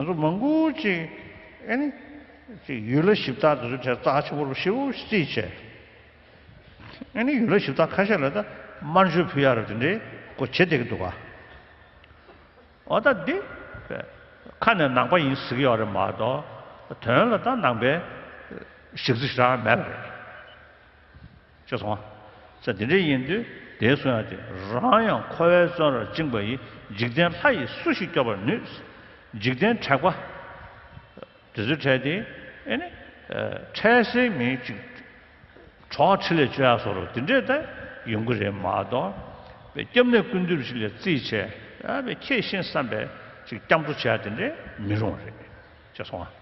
ང་ཚོ་མང་པོ་ཅིག་གིས་ཡུལ་ལ་ཞིབ་བརྟག་དེ་ཚོའི་ཐད་བརྩག་ཆེན་པོ་རུ་ཤེས་པོ་རྩིས་བྱས། ཡུལ་ལ་ཞིབ་བརྟག་ཁ་ཤས་ལ་ད་དམར་མཆོད་ཕུལ་ཡག་རེད་དེ་འདྲའི་སྐོར་བྱེད་བསྡད་ཀྱི་འདུག་ག་འོ་ད་འདི་ཁ་ནས་ནང་པ་ཡིན་ཟེར་གྱི་ཡོད་རེད་མ་གཏོགས་དོན་ལ་ད་ནང་པའི་ཞིབ་རྩིས་ཞིག་རག་མེད་པ་རེད། ཅེས་གསུངས་པ། ཚེ་འདི་འདྲའི་ཡིན་དུས་དེའི་གསུང་ཡང་དེ་རང་ཡང་འཁོར་བའི་བཙོན་རར་བཅིངས་པ་ཡིས་འཇིག་རྟེན་ལྷ་ཡིས་སུ་ཞིག་སྐྱོབ་པར་ནུས། འཇིག་རྟེན་དྲེགས་པ། དེ་ཚོའི་གྲས་དེ་ཨེ་ནི། འཕྲལ་སེལ་མི་གཅིག། གྲོགས་ཁྲི་ལས་བཅོལ་ཡག་སོགས་རོ་དེ་འདྲས་ད་ཡོང་གི་རེད་མ་གཏོགས། པའི་སྐྱབས་གནས་ཀུན་འདུས་ཞིག་ལས་རྩིས་བྱས་ཡ་པའི་ཁྱེད་ཤེས་བསམ་པས་ཅིག་སྐྱབས་འགྲོ་བྱས་ཡ་དེ་འདྲས་མི་རུང་བ་རེད། ཅེས་གསུངས་པ།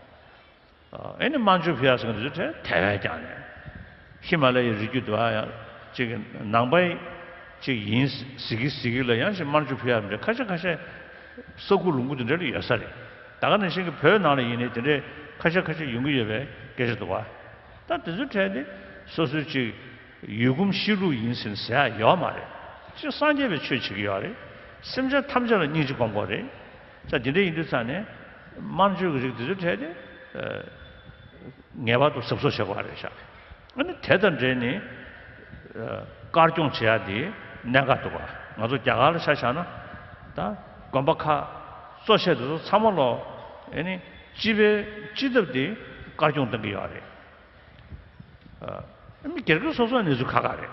ཨེ་ནི་མཱ་ཇུ་བྷིའ་སོགས་ཀྱི་གྲས་དེ་བས་ཀྱང་ནས། ཧི་མ་ལ་ཡའི་རི་རྒྱུད་དུ་ཨ་ཡང་གཅིག་གི་ནང་པ་གཅིག་ཡིན། གཟིགས་ཀི་གཟིགས་ཀི་ལ་ཡང་ཞིག་མཱ་ཇུ་བྷིའ་མི་འདྲ་ཁ་ཤས་ཁ་ཤས་ས་ཁུལ་ལུང་ཁུལ་དེ་འདྲ་ལ་ཡོད་ས་རེད། ད་ག་ནང་བཞིན་གྱི་བོད་ནང་ལ་ཡིན་ནའི་དེ་འདྲའི་ཁ་ཤས་ཁ་ཤས་ཡོང་གི་ཡོད་པའི་སྐད་ཆ་འདུག་བ། ད་དེ་ཚོའི་གྲས་དེ་སོ་སོའི་གཅིག་ཡུལ་གོམས་གཤིས་ལུགས་ཡིན་ཟིན་ཟེར་ཡག་ཡོད་མ་རེད། གཅིག་སངས་རྒྱས་པའི་ཆོས་བྱེད་ཀྱི་ཡོད་རེད། སེམས་ཅན་ཐམས་ཅད་ལ་སྙིང་རྗེ་སྒོམ་དགོས་རེད། ས་དེ་འདྲ་ཡིན་དུས་ཚང་ནས་དམར་མཆོད་ཀྱི་རིགས་དེ་ཚོའི་གྲས་དེ་ངེས་པར་དུ་ཟབ་གསོ་བྱེད་དགོས་པ་རེད་ཤག་ཨ་ནི་དེ་དང་འབྲེལ་ནས་དཀར་སྐྱོང་བྱེད་ཡག་དེ་གནད་འགག་འདུག་ང་ཚོ་རྒྱ་གར་ལ་ཆ་བཞག་ན་ད་དགོན་པ་ཁག་གཙོ་བྱས་དེ་ཚོ་ཚང་མ་ལོ་ཨེ་ནི་སྤྱི་པའི་སྤྱི་ཐབས་དེ་དཀར་སྐྱོང་གཏོང་གི་ཡོད་རེད་ཨ་ནི་སྒེར་གྱི་སོ་སོ་ནས་ཚུ་ཁ་ཁ་རེད།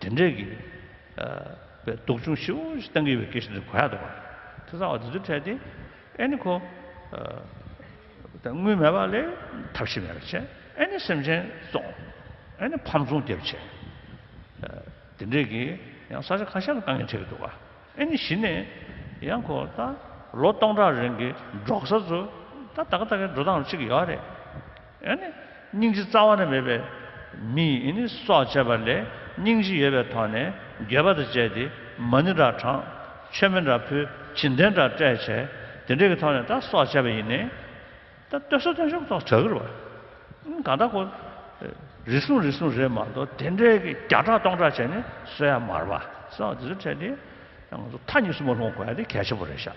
དེ་འདྲའི་གི་བའི་སྡུག་སྦྱོང་ཞིབ་པོ་ཞིག་གཏང་གི་ཡོད་པའི་སྐད་ཤིག་འདིར་གོ་ཡག་འདུག་པ། དེ་ཚང་བ་འདི་ཚོའི་གྲས་དེ་ཨེ་ནི་ཁོ། དངུལ་མེད་པ་ལས་ཐབས་ཤེས་མེད་པ་བྱས། ཨེ་ནི་སེམས་ཅན་བཙོང། ཨེ་ནི་ཕམ་ཚོང་རྒྱབ་བྱས། དེ་འདྲའི་གི་ཡང་ས་ཆ་ཁ་ཤས་ལ་གཏང་ཉེན་འཕྲད་ཀྱི་འདུག་པ། ཨེ་ནི་གཞི་ནས་ཡང་ཁོ་ད་ལོ་སྟོང་ཕྲག་རིང་གི་འབྲོག་ས་ཚོ་ད་ད་ག་ད་གའི་འགྲོ་སྟངས་ཤིག་ཡོད་རེད། སྙིང་རྗེ་རྩ་བ་ན་མེད་པའི་མི་ཡི་སྲོག་བཅད་པ་ལས་སྙིང་རྗེ་ཡོད་པའི་ཐོག་ནས་རྒྱལ་བ་དང་བཅས་ཏེ་མ་ནི་འདྲ་དྲངས། མཆོད་མེ་འདྲ་ཕུལ་བྱིན་ལྡན་འདྲ་སྤྲས་བྱས་དེ་འདྲའི་གི་ཐོག་ནས་ད་སྲོག་བཅད་པ་ཡིན། ད་སྟོད་སྲོག་སྟོན་ཤོག་ཐོག་བྲག་གིར་བ། གང་ད་ཁོ། རེ་ཟུང་རེ་ཟུང་རེད་མ་གཏོགས་དེ་འདྲའི་གི་བརྒྱ་ཕྲག་སྟོང་ཕྲག་བྱས་ནས་གསོད་ཡ་མར་བ། སོགས་དེ་ཚོ་ཕྲད་དེ། ང་ཚོ་མཐའ་གཉིས་སུ་མ་ལྷུང་བ་གོ་ཡ་དེ་གལ་ཆེན་པོ་རེད་ཤག།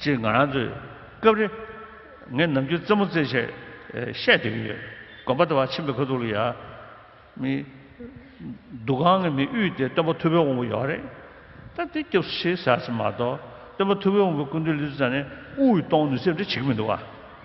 ཅེས་ང་རང་ཚོས་སྐབས་རེ། ངས་ནམ་རྒྱུན་རྩེད་མོ་རྩེད་ཆེད་བཤད་སྡོད་ཀྱི་ཡོད། དགོན་པ་དེ་བར་ཕྱིན་པའི་ཁ་ཐུག་ལ་ཡར། མི། འདུ་ཁང་གི་མི་དབུས་དེ་སྟོན་པ་ཐུ་བོའི་དབང་པོ་ཡོད་རེད། སྟབས་བདེ་སྐྱབས་སུ་ཆེ་ཟེར་བ་ཚོ་མ་གཏོགས་སྟོན་པ་ཐུ་བོའི་དབང་པོའི་སྐུ་མདུན་ལི་ཙུ་ཚང་ནི་དབུས་དབུས་གཏོང་ནུས་ཚད་འདྲ་བྱེད་ཀྱི་མི་འདུག་བ།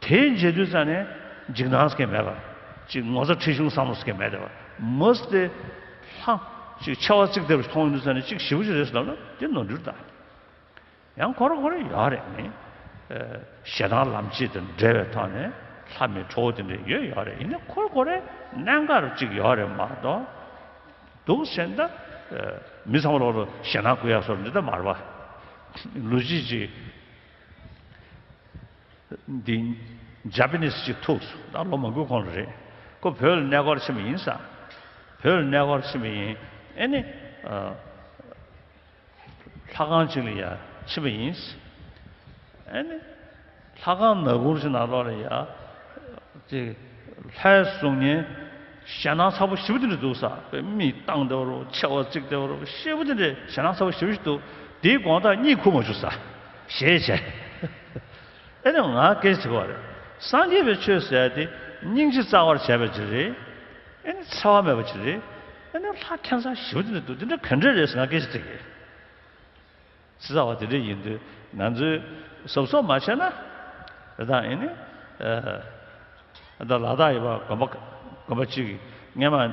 དེའི་མཇལ་དུས་ཙམ་ནས་འཇིགས་སྣང་སྐྱེ་མེད་པ། ཅིག་ངོ་ཚ་འཁྲི་གཞུང་བསམ་བློ་སྐྱེ་མེད་པ། མུ་སྟེ། ལྷ། ཅིག་མཆེ་བ་གཙིགས་སྡེབས་མཐོང་ཡོང་དུས་ཙམ་ནས་ཅིག་ཞི་བུ་ཅིག་རེད་བསམ་ན་དེ་ནོར་འཁྲུལ་དང། ཡང་གོ་རེ་གོ་རེ་ཡོད་རེད་མི། ཞེ་སྡང་ལམ་བྱེད་དང་འབྲེལ་བའི་ཐོག་ནས་ལྷ་མི་ཁྲོ་བོ་དེ་འདྲ་ཡོད་ཡོད་རེད་ཡིན་ན་གོ་རེ་གོ་རེ་གནད་འགག་རེ་ཅིག་ཡོད་རེད་མ་གཏོགས། འདུག་སེམས་ད། མི་ཚང་མ་ལོག་ལོ་ཞེ་སྡང་གུ་ཡ་སོགས་འདི་ལྟར་མ་རེད་པ། ལུས་ཅིག་ཅིག། འདི Japanese གཅིག་ཐུགས་སུ་ད་ལོ་མ་དགོས་གོང་ལ་རེད་ཁོ་བོད་ལ་གནས་སྐོར་ཕྱིན་པ་ཡིན་ས་བོད་ལ་གནས་སྐོར་ཕྱིན་པ་ཡིན་ཨེ་ནི་ལྷ་ཁང་གཅིག་ལ་ཡ་ཕྱིན་པ་ཡིན་ས་ཨེ་ནི་ལྷ་ཁང་ནག་འགུར་ཅིག་ནང་ལོག་ལ་ཡ་དེ་ལྷའི་གཟུགས་བརྙན་ཞལ་ནག་ཚ་པོ་བཞི་བོ་དེ་འདྲ་འདུག་ས་བོད་མི་སྟངས་དེ་བ་རུ་མཆེ་བ་གཙིགས་དེ་བ་རུ་ཤེད་བུ་དེ་འདྲའི་ཞལ་ནག་ཚ་བོ་བཞི་བོ་ཞིག་འདུག་དེའི་དགོངས་དག་གཉིད་ཁུག་མ་བྱུག་ས། ཞེས་བྱ། ཨེ་ནི་ང་སྐད་ཅིག་བ་རེ། སངས་རྒྱས་པའི་ཆོས་ཟད་དེ་སྙིང་རྗེ་རྩ་བར་བྱས་པའི་ཕྱིར་རེ། ཨེ་ནི་འཚེ་བ་མེད་པའི་ཕྱིར་རེ། ཨེ་ནི་ལྷ་ཁྱད་མཚར་བཞི་བོ་འདི་འདུག་འདི་འདྲ་ག་འདྲས་རེད་ཟེར་ང་སྐད་ཅིག་དྲིས། ཚེ་ཚ་བ་དེ་འདྲས་ཡིན་དུས་ང་ཚོའི་ཟོབ་ཚོགས་མ་བྱས་ན། རེ་དང་ཨེ་ནི། ལ་དྭགས་ཡི་བ་དགོན་པ་གཅིག་གིས་སྔས་མ།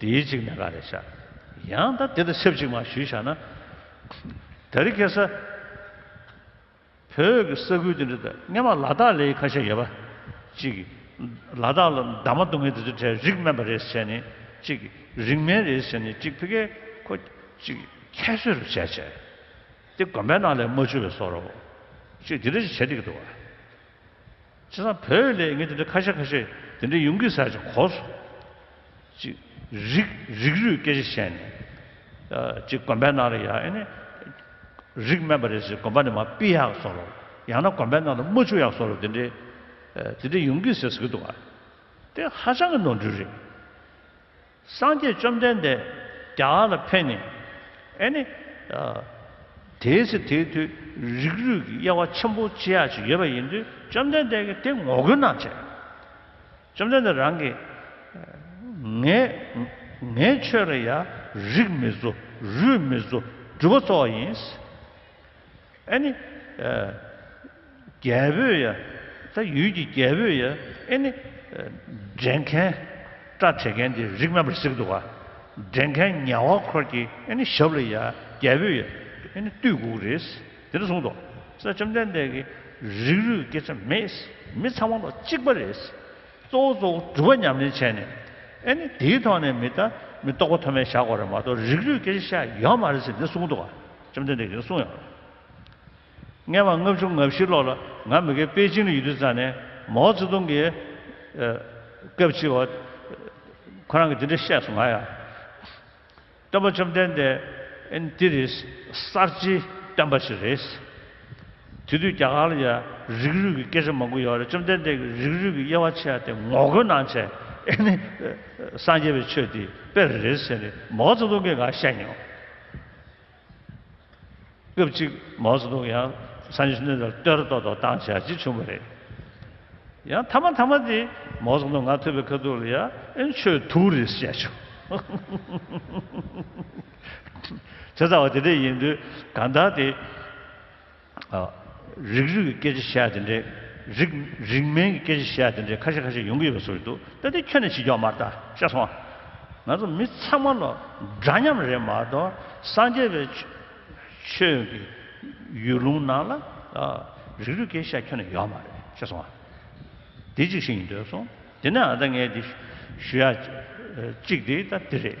དེའི་གཅིག་ནས་ག་རེ་བྱ། ཡང་ད་དེ་ལ་ཆབས་ཅིག་མ་ཞུས་བྱ་ན། དེར་སྐད་ས། བོད་ཀྱི་ས་ཁུལ་དེ་འདྲ་དང་སྔན་མ་ལ་དྭགས་ལའི་ཁ་ཤས་ཡོད་པ། གཅིག། ལ་དྭགས་ལ་འདབ་མ་སྡུག་བསྔལ་དེ་ཚོའི་གྲས་རིགས་དམན་པ་རེས་བྱས་ནས་གཅིག། རིགས་དམན་རེས་བྱས་ནས་གཅིག་ཕི་གའི་ཁོ། གཅིག། ཁྱད་གསོད་རུ་བྱས་བྱས། དེ་དགོན་པའི་ནང་ལས་མ་འཆུ་བའི་སོག་རོ། གཅིག་དེ་འདྲ་ཞིག་བྱས་འདི་གི་འདུག་བ། བྱས་ཙང་བོད་ལས་ངས་དེ་འདྲའི་ཁ་ཤས་ཁ་ཤས་དེ་འདྲའི་ཡོང་གི་ཟེར་ཅིག་གོ་སོ། ཅིག། རིག། རིག་རུས་སྐད་ཆ་བཤད་ནས། ཅིག་དགོན་པའི་ནང་ལ་ཡ་ཨེ་ནི། རིག་སྨན་པ་རེད་ཟེར་དགོན་པ་ནས་མ་པི་ཡག་བཟོ་ལོ། ཡང་ན་དགོན་པའི་ནང་ལ་རྨ་ཆུ་ཡག་བཟོ་ལོ་དེ་འདྲའི། དེ་འདྲའི་ཡོང་གི་ཟེར་ཟེར་གི་འདུག་ག། དེ་ཧ་ཅང་གི་ནོར་འཁྲུལ་རེད། སངས་རྒྱས་བཅོམ་ལྡན་འདས་བརྒྱ་ལ་ཕན་ནི། ཨེ་ནི། དེའི་ཚེ་དེའི་མཐུས་རིགས་རུས་ཀྱི་དབྱེ་བ་ཆེན་པོ་ཅི་ཡ་ཅིག་ཡོད་པ་ཡིན་དུས་བཅོམ་ལྡན་འདས་ཀྱིས་དེ་ངོ་རྒོལ་གནང་བྱས། བཅོམ་ལྡན་འདས་རང་གིས། ངས། ངའི་ཆོས་ལ་ཡང་རིགས་མི་བཟོ་རུས་མི་བཟོ་སྒྲུབ་པ་གཙོ་བ་ཡིན། ཨེ་ནི། རྒྱལ་པོས་ཡ། ད་ཡུལ་གྱི་རྒྱལ་པོས་ཡ། ཨེ་ནི། འདྲེན་མཁན། སྐྲ་བྲེག་མཁན་དེ་རིགས་རྣམ་པར་གཟིགས་འདུག་ག། འདྲེན་མཁན་ཉལ་བ་འཁོར་གྱིས་ཨེ་ནི་ཞབས་ལ་ཡ། རྒྱལ་པོས་ཡ། ཨེ་ནི་བཏུད་དགུག་རེས། དེ་ནས་གསུངས་ཏོ། སྲས་བཅོམ་ལྡན་འདས་ཀྱིས། རིགས་རུས་སྐད་ཆ་མེད། མི་ཚང་མ་ལོ་གཅིག་པ་རེད། གཙོ་བོ་གཙོ་བོ་སྒྲུབ་པ་ཉམས་ལེན་བྱས་ནས། ཨེ་ནི་དེའི་ཐོག་ནས་མི་ལྟ། མི་རྟོག་པ་ཐོབ་མེད་བཞག་གོ་རེ་མ་གཏོགས་རིགས་རུས་སྐད་ཆ་བཤད་ཡོད་མ་རེད་ཟེར་ནས་གསུངས་འདུག་ག། བཅོམ་ལྡན་འདས་ཀྱིས་གསུང་ཡང། བརྔན་བ་ལྔ་བཅུ་ལྔ་བཞི་ལོག་ལ་ང་མི་དགེ་པེ་ཅིང་ལ་ཡུལ་དུས་ཙཱ་ནས་མའོ་ཙེ་ཏུང་གིས། སྐབས་ཕྱིས་བ། ཁོ་རང་གིས་དེ་འདྲ་བཤད་སོང་ང་ཡང། སྟོན་པ་བཅོམ་ལྡན་འདས། འདི་རི་གསར་བརྗེའི་སྟོན་པ་ཞིག་རེད། དེ་དུས་རྒྱ་གར་ལ་ཡང་རིགས་རུས་ཀྱི་སྐད་ཆ་མང་པོ་ཡོད་རེད་བཅོམ་ལྡན་འདས་ཀྱིས་རིགས་རུས་ཀྱི་དབྱེ་བ་ཕྱེ་སྟེ་ངོ་རྒོལ་གནང་བྱས་ཨེ་ནི། སངས་རྒྱས་པའི་ཆོས་འདི་དཔེ་རེད་ཟེར་ནས་མའོ་ཙེ་ཏུང་གིས་འགའ་བཤད་མྱོང། སྐབས་གཅིག་མའོ་ཙེ་ཏུང་ཡང་སང་ཞིང་ནུས་ལ་གཏོད་ར་ཏོག་ཏོག་བཏང་བྱ་ཅི་བྱུང་བ་རེད། ཡང་མཐའ་མ་མཐའ་མ་དེ་མའོ་ཙེ་ཏུང་ང་ཐུབ་པའི་ཁ་ཐུག་ལ་ཡ་ཨན་ཆོས་དུག་རེད་བཤད་བྱུང། བྱས་ཚར་བ་དེ་འདྲ་ཡིན་དུས་གང་ལྟར་དེ། རིགས་རུས་ཀྱི་སྐད་ཆ་བཤད་དེ་འདྲས། རིགས་རིགས་མིན་གྱི་སྐད་ཆ་བཤད་དེ་འདྲས་ཁ་ཤས་ཁ་ཤས་ཡོང་གི་ཡོད་པ་སོགས་ཞིག་འདུག་ད་ལྟའི་ཁྱོད་ནས་ཕྱི་ཕྱོགས་མར་ལྟ་ཤ་སོང། ང་ཚོ་མི་ཚང་མ་ལོ་འདྲ་མཉམ་རེད་མ་གཏོགས་སངས་རྒྱས་པའི་ཆོས་ཀྱི་ཡུལ་ལུང་ནང་ལ་རིགས་རུས་སྐད་ཆ་བཤད་ཁྱོད་ནས་ཡོད་མ་རེད་ཤ་སོང། དེ་གཅིག་ཤེས་ཡིན་འདོད་སོང་དེ་ནའང་ད་ངས་དེ་ཞུ་ཡ་གཅིག་དེ་ད་དེ་རེད།